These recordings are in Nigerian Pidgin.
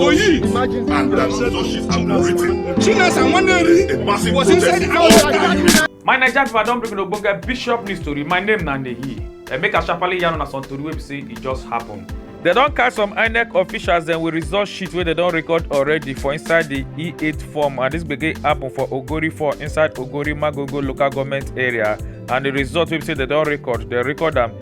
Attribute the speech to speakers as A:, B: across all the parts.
A: Oyi, and that so she's operating. Chinas and Waneri, a massive was inside our My Nigerian people, I don bring Ogbonge Bishop news story. My name na Nehi. I make a sharply yarn on some story wey be say e just happen. They don catch some inec officials dem with result sheet wey dem don record already for inside di e8 form and dis gbege happen for ogori 4 inside ogori magogo local goment area and di result wey be say dem don record dem record am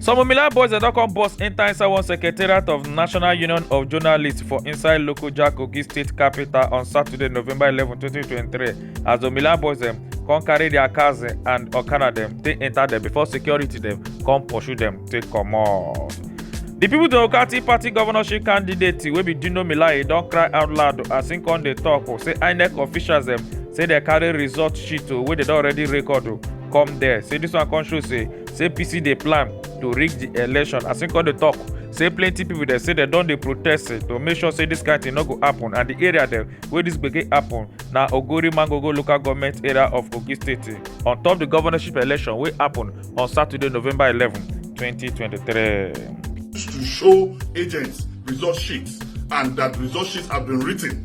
A: some omila boys dem don come burst enta inside one secretariat of national union of journalists for inside lokoja kogi state capital on saturday november eleven twenty twenty three as the omila boys dem come carry their cars eh, and okada dem take enter dem before security dem come pursue dem take comot. di pipo democratic party governorship candidate wey be dino melaye don cry out loud as im come dey tok oh, say inec officials dem say dem carry result sheet oh, wey dem don already record oh, come there say dis one come show say say apc dey plan to rig di election as im come dey tok say plenty pipo dey say dem don dey protest to make sure say dis kain tin no go happun and di area dem wey dis gbege happun na ogori mangogo local goment area of kogi state on top di governorship election wey happun on saturday november eleven twenty twenty three. to show agents result sheets and that result sheets have been written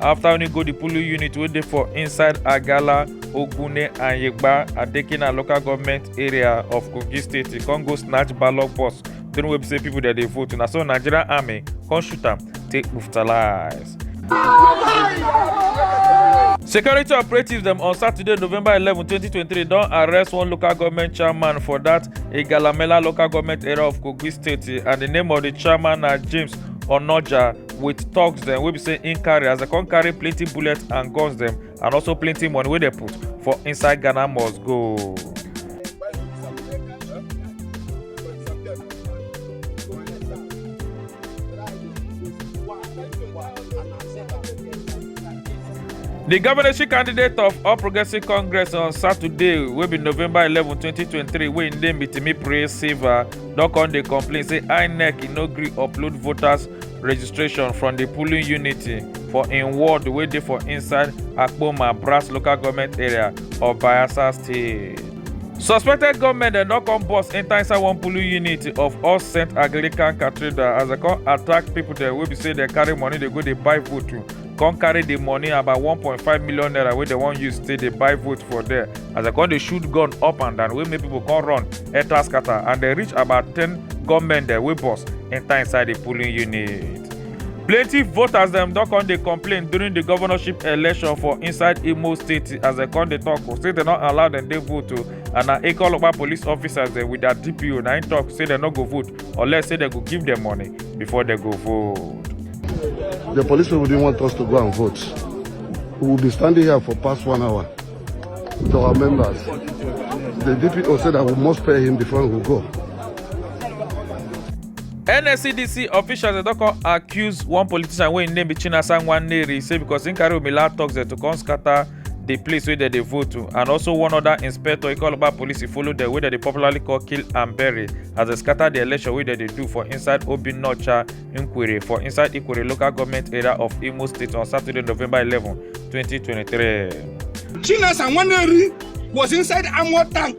A: after only go the polling unit wey dey for inside agala ogune and yegba adekina local government area of kogi state e come go snatch ballot box during wey be say people dey dey vote na so nigerian army come shoot am take brutalize. security operatives dem on saturday november eleven twenty twenty three don arrest one local government chairman for dat igalamela local government area of kogi state and di name of di chairman na james onoja with thugs dem wey be say im carry as dem come carry plenty bullets and guns dem and also plenty money wey dem put for inside ghana must go. di governorship candidate of all progressives congress on saturday wey be november eleven twenty twenty three wey im name be timi praise silva don come dey complain say inec e no gree upload voters registration from di polling unit for im ward wey dey for inside akpoma brass local goment area of bayelsa state suspected gunmen dem don come burst enta inside one polling unit of all saint anglican cathedral as dem come attack pipo dem wey be say dem carry money dey go dey buy vote come carry the money about 1.5 million naira wey dem wan use take dey buy vote for there as dem come dey shoot gun up and down wey make people come run enter scatter and dem reach about ten gunmen dem wey burst enter inside the polling unit. plenty voters dem don come dey complain during the governorship election for inside imo state as dem come dey talk o say dem no allow dem dey vote o and na ekeolopa police officers dem with their dpo na im talk say dem no go vote unless say dem go give dem money before dem go vote. The police people didn't want us to go and vote. We will be standing here for past one hour to our members. The DPO said that we must pay him before we go. nscdc officials don come accuse one politician wey im name be chinasa nwaneri say because im carry omila toxin to come scatter di place wey dem dey vote to and also one oda inspector ikoloba police follow dem wey dem dey popularly call kill and bury as dem scatter di election wey dem dey do for inside obinnaocha nkwere for inside ikwere local goment area of imo state on saturday november eleven twenty twenty three. chinasa nwaneri was inside armoured tank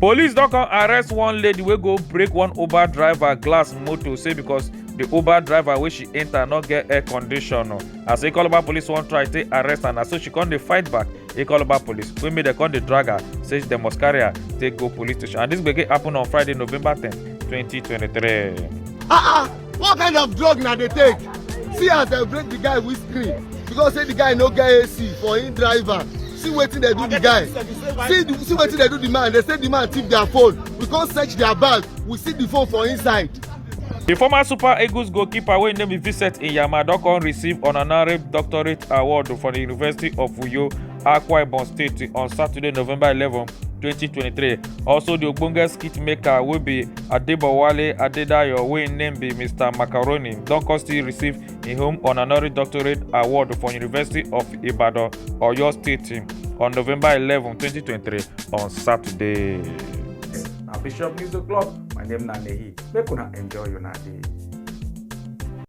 A: Police don come arrest one lady wey go break one Uber driver glass motor say because the Uber driver wey she enter no get air condition. o. As Ikoloba police wan try take arrest her na so she come dey fight back Ikoloba police wey make dem come dey drag her say dem must carry her take go police station and this gbege happen on Friday November 10, 2023. Ah ah! what kind of drug na dey take see as dem break the guy with screen because say the guy no get ac for him driver see wetin dey do the guy see the see wetin dey do the man dey say the man thief their phone we come search their bag we see the phone for inside. The former Super Eagles goalkeeper wey name be Vincent Iyama don come receive honorary doctorate award from the University of Uyo akwa ibom state on saturday november eleven twenty twenty three also di ogbonge skit maker wey be adebowale adedayo wey im name be mr macaroni don come still receive im home honorary doctorate award from university of ibadan oyo state on november eleven twenty twenty three on saturday. na bishop news o'clock my name na nehi make una enjoy una day.